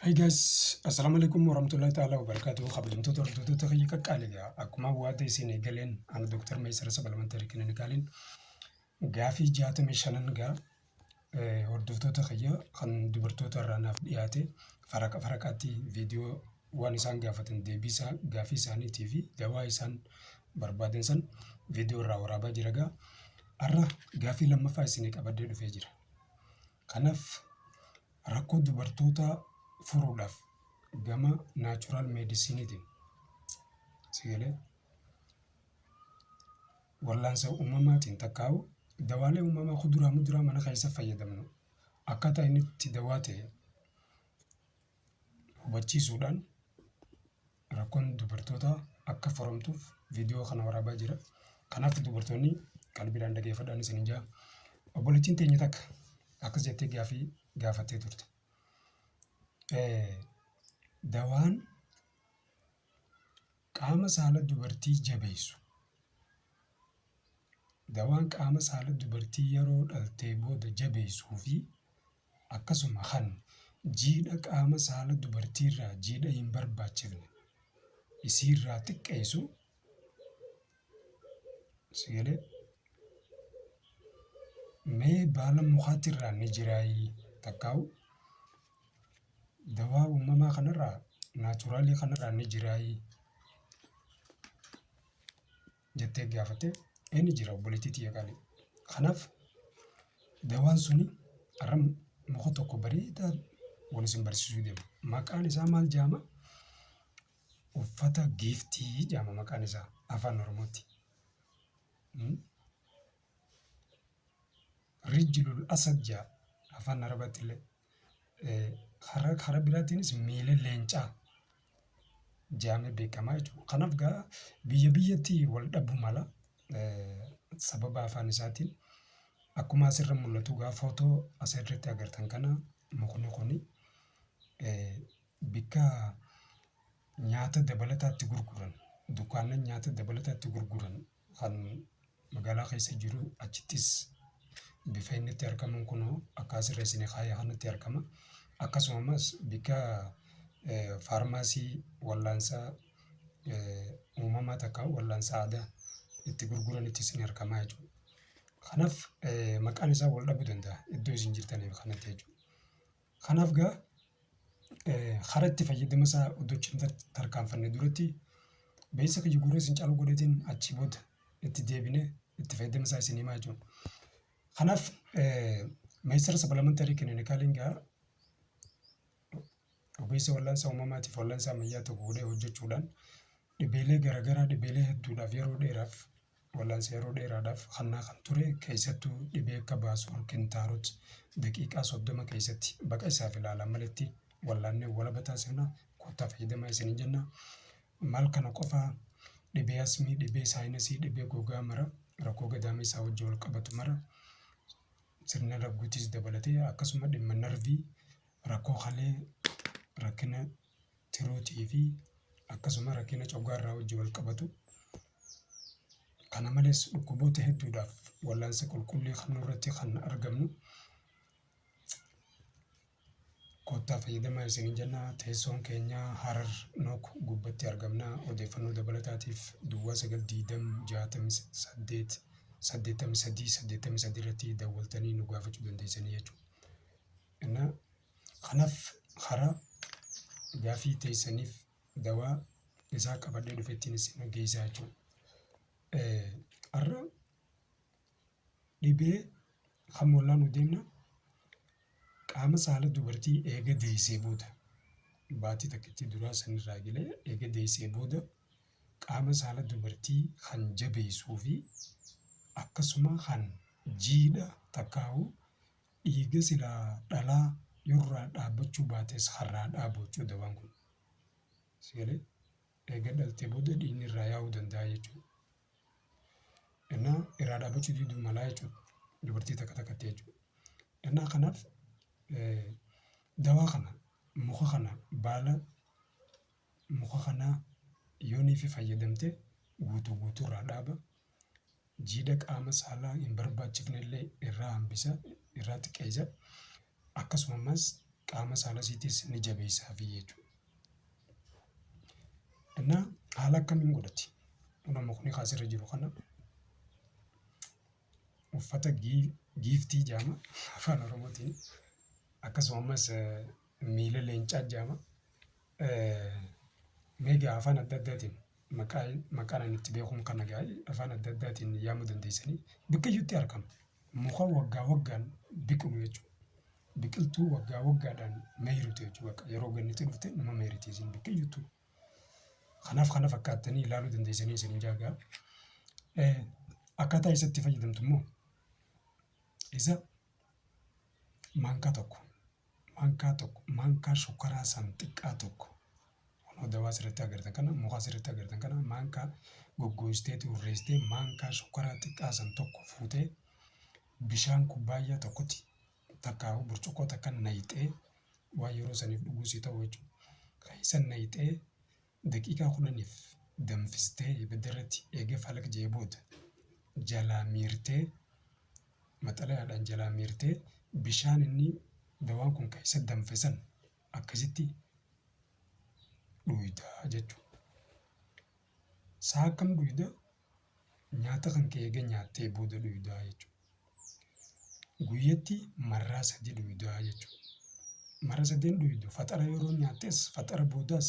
Hi guys, Assalamu alaikum warahmatullahi ta'ala wabarakatuh. Kabajamtoota hordoftoota kiyya qaqqaaliidha. Akkuma waada isin eegaleen ani Dr. Meesara Sabalmantarii Kilinikaalin gaafii jaatamii shanan gaa eh, hordoftoota kiyya kan dubartoota irraa naaf dhiyaate faraqa faraqaatti viidiyoo waan isaan gaafatan deebii isaa gaafii isaaniitii fi dawaa isaan barbaadan san viidiyoo irraa waraabaa jira gaa. Har'a gaafii lammaffaa isinii qabadee dhufee jira. Kanaaf rakkoo dubartootaa furuudhaaf gama naachuraal meedisiiniitiin si galee wallaansa uumamaatiin takkaa'u dawaalee uumamaa kuduraa muduraa mana keessa fayyadamnu akkaataa inni itti dawaa ta'e hubachiisuudhaan rakkoon dubartootaa akka furamtuuf viidiyoo kana waraabaa jira. Kanaaf dubartoonni qalbiidhaan dhageeffadhaan isin jaa. Obboleettiin teenya takka akkas jettee gaafii gaafattee turte. Dawaan qaama saala dubartii jabeessu. Dawaan qaama saala dubartii yeroo dhaltee booda jabeessuu fi akkasuma kan jiidha qaama saala dubartiirraa jiidha hin barbaachifne isiirraa xiqqeessu si galee mee baala mukaatirraa ni jiraayii takkaa'u dawaa uumamaa kanarraa naachuraalii kanarraa ni jiraayii jettee gaafatte inni jira obboleettii tiyya qaalii. Kanaaf dawaan suni arra muka tokko bareedaa wani isin barsiisuu deema. Maqaan isaa maal jaama? Uffata giiftii jaama maqaan isaa afaan Oromootti. Hmm? Rijlul asad jaa afaan Arabaatti illee Karaa karaa biraatiinis miilli leencaa jedhamee beekama jechuudha. Kanaaf egaa biyya biyyatti wal dhabuu mala. Sababa afaan isaatiin akkuma asirra mul'atu egaa footoo asirratti agartan kana mukni kuni bakka nyaata dabalataa itti gurguran, dukkaana nyaata dabalataa itti gurguran. kan magaalaa keessa jiru achittis bifa inni itti argamuun kunoo akkaa sirreessine kaayee kanatti argama. Akkasuma ammas bikka faarmaasii wallaansaa uumamaa takka wallaansa aadaa itti gurguranittis ni argamaa jechuudha. Kanaaf maqaan isaa wal dhabuu danda'a iddoo isin jirtaniif kanatti jechuudha. Kanaaf egaa karaa itti fayyadama isaa utuu achi hin tarkaanfanne duratti beeksisa kiyya gurra isin caalu godheetiin achii booda itti deebinee itti fayyadama isaa isin himaa jechuudha. Kanaaf meeshaa sapalamantarii kilinikaalii egaa ogeessa wal'aansa uumamaatiif wal'aansa ammayyaa tokko godhee hojjechuudhaan dhibeelee garaagaraa dhibeelee hedduudhaaf yeroo dheeraaf Wallaansa yeroo dheeraadhaaf hannaa kan ture, keessattuu dhibee akka Baasuur Kintaarot daqiiqaa 30 keessatti baqa isaaf ilaalaan maletti wallaannee walaba taasifna, kottaa fayyadamaa isiniin jenna. Maal kana qofa dhibee asmii, dhibee saayinasii, dhibee gogaa mara, rakkoo gadaamee isaa wajjin wal qabatu mara, sirna ragguutis dabalatee akkasuma dhimma narvii, rakkoo kalee, rakkina Throat fi akkasuma rakkina coggaarraa wajjin wal qabatu. Kana malees dhukkuboota hedduudhaaf wallaansa qulqullii kan nurratti kan argamnu. Koottaa fayyadamaa isiniin jenna. Teessoon keenya Harar Nook gubbatti argamna. Odeeffannoo dabalataatiif duwwaa 92068 83 83 irratti dawwaltanii nu gaafachuu dandeessanii jechuudha. Innaa Kanaf hara gafii tesanif dawa isaa qabadhe dhufetin isin geysa jechu hara dhibee kan mollanu demna qaama saala dubartii eega deysee booda baatii takkitti duraa sanirraa egalee eega deysee booda qaama saala dubartii kan jabeysuu fi akkasuma kan jiidha takkaahuu Dhiiga silaa dhalaa yoo irraa dhaabbachuu baates harraa dhaabu jechuudha dawaan kun. Si galee? Eega dhaltee booda dhiigni irraa yaa'uu danda'a jechuudha. Innaa irraa dhaabbachuu diduu malaa jechuudha. Dubartii takka takkatti jechuudha. Innaa kanaaf dawaa kana muka kana baala muka kanaa yoo niifi fayyadamte guutuu guutuu irraa dhaaba. jiidha qaama saalaa hin barbaachifne illee irraa hambisa, irraa xiqqeessa. Akkasuma ammas qaama saala isiitiis ni jabeessaafi jechuudha. Innaa haala akkamiin godhati? Kunoo mukni kaa asirra jiru kana uffata giiftii jedhama afaan oromootiin akkasuma ammas miila leencaa jedhama. Mee egaa afaan adda addaatiin maqaa maqaan ani itti beekuun kana egaa afaan adda addaatiin yaamuu dandeessanii biqiyyuutti argama. Muka waggaa waggaan biqilu jechuudha. Biqiltuu waggaa waggaadhaan mayritu jechuudha. Bakka yeroo ganni itti dhufte numa mayriti isin biqiyyittu. Kanaaf kana fakkaattanii ilaaluu dandeessanii isiniin jaa egaa. Akkaataa isa itti fayyadamtu immoo isa maankaa tokko Maankaa tokko maankaa shukkaraa san xiqqaa tokko kunoo dawaa asirratti agartan kana muka asirratti agartan kana maankaa goggoostee turreessitee maankaa shukkaraa xiqqaa san tokko fuutee bishaan kubbaayyaa tokkotti takkaa'uu burcuqqoo takka nayxee waan yeroo saniif dhuguu si ta'u jechuudha. Kan isa nayxee Daqiiqaa kudhaniif danfistee ibiddarratti eega falaqjee booda jalaa miirtee, maxalayaadhaan jalaa miirtee bishaan inni dawaan kun keessa danfe san akkasitti dhuyda jechuudha. Sa'a akkam dhuyda? Nyaata kan kee eega nyaattee booda dhuydaa jechuudha. Guyyatti marraa sadii dhuydaa jechuudha. Marra sadeen dhuydu faxara yeroo nyaattes faxara boodas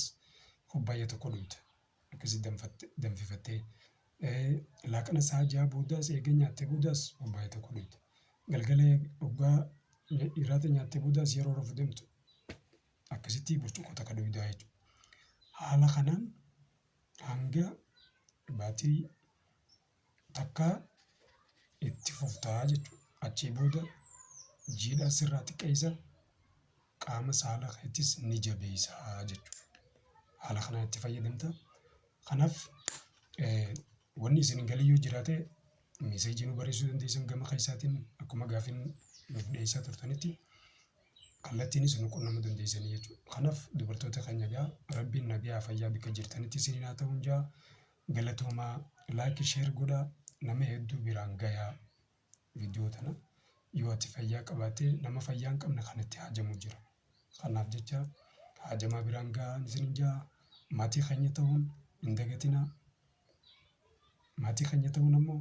kubbaayya tokko dhuyda. Akkasi danfattee danfifattee laaqana sa'a ja'a boodas eega nyaattee boodas kubbaayya tokko dhuyda. Galgala hoggaa hiraata nyaattee boodas yeroo rafuu deemtu akkasitti burcuqqoo takka dhuydaa jechuudha. Haala kanaan Hanga baatii takkaa itti fufta jechuudha. Achii booda jiidhaa sirraa xiqqeessa, qaama saala keetis ni jabeessa jechuudha. Haala kanaan itti fayyadamta. Kanaaf wanni isin hin galin yoo jiraate miseejii nuu barreessuu dandeessan gama keessaatiin akkuma gaafiin nuuf dhiyeessaa turtanitti. kallattiinis nu qunnamuu dandeessanii jechuudha. Kanaaf dubartoota keenya egaa rabbiin nagayaa fayyaa bakka jirtanitti isiniin haa ta'uun jaa galatoomaa laayikii sheer godha nama hedduu biraan gayaa viidiyoo tana yoo ati fayyaa qabaattee nama fayyaa hin qabne kan itti haajamu jira. Kanaaf jecha haajamaa biraan gahaa isiniin jaa maatii keenya ta'uun hin dagatinaa. Maatii keenya ta'uun ammoo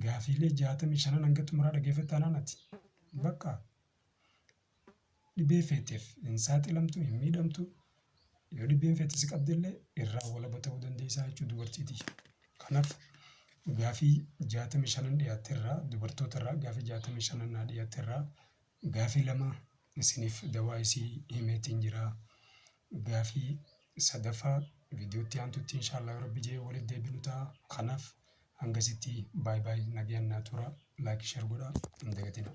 Gaafiilee jaatamii shanan hanga xumuraa dhageeffadhu taanaan ati bakka dhibee feeteef hin saaxilamtu, hin miidhamtu. Yoo dhibeen feete si qabdellee irraa walaba ta'uu dandeessaa jechuudha dubartii tiyya. Kanaaf gaafii jaatamii shanan dhiyaatte irraa dubartoota irraa gaafii jaatamii shanan naa dhiyaatte irraa gaafii lama isiniif dawaa isii himeetiin jira. Gaafii sadaffaa viidiyoo itti aantutti inshaallah yoo rabbi je'e walitti deebinu ta'a. Kanaaf hangasitti by by nagayaan naa turaa. Like share godhaa hin dagatinaa.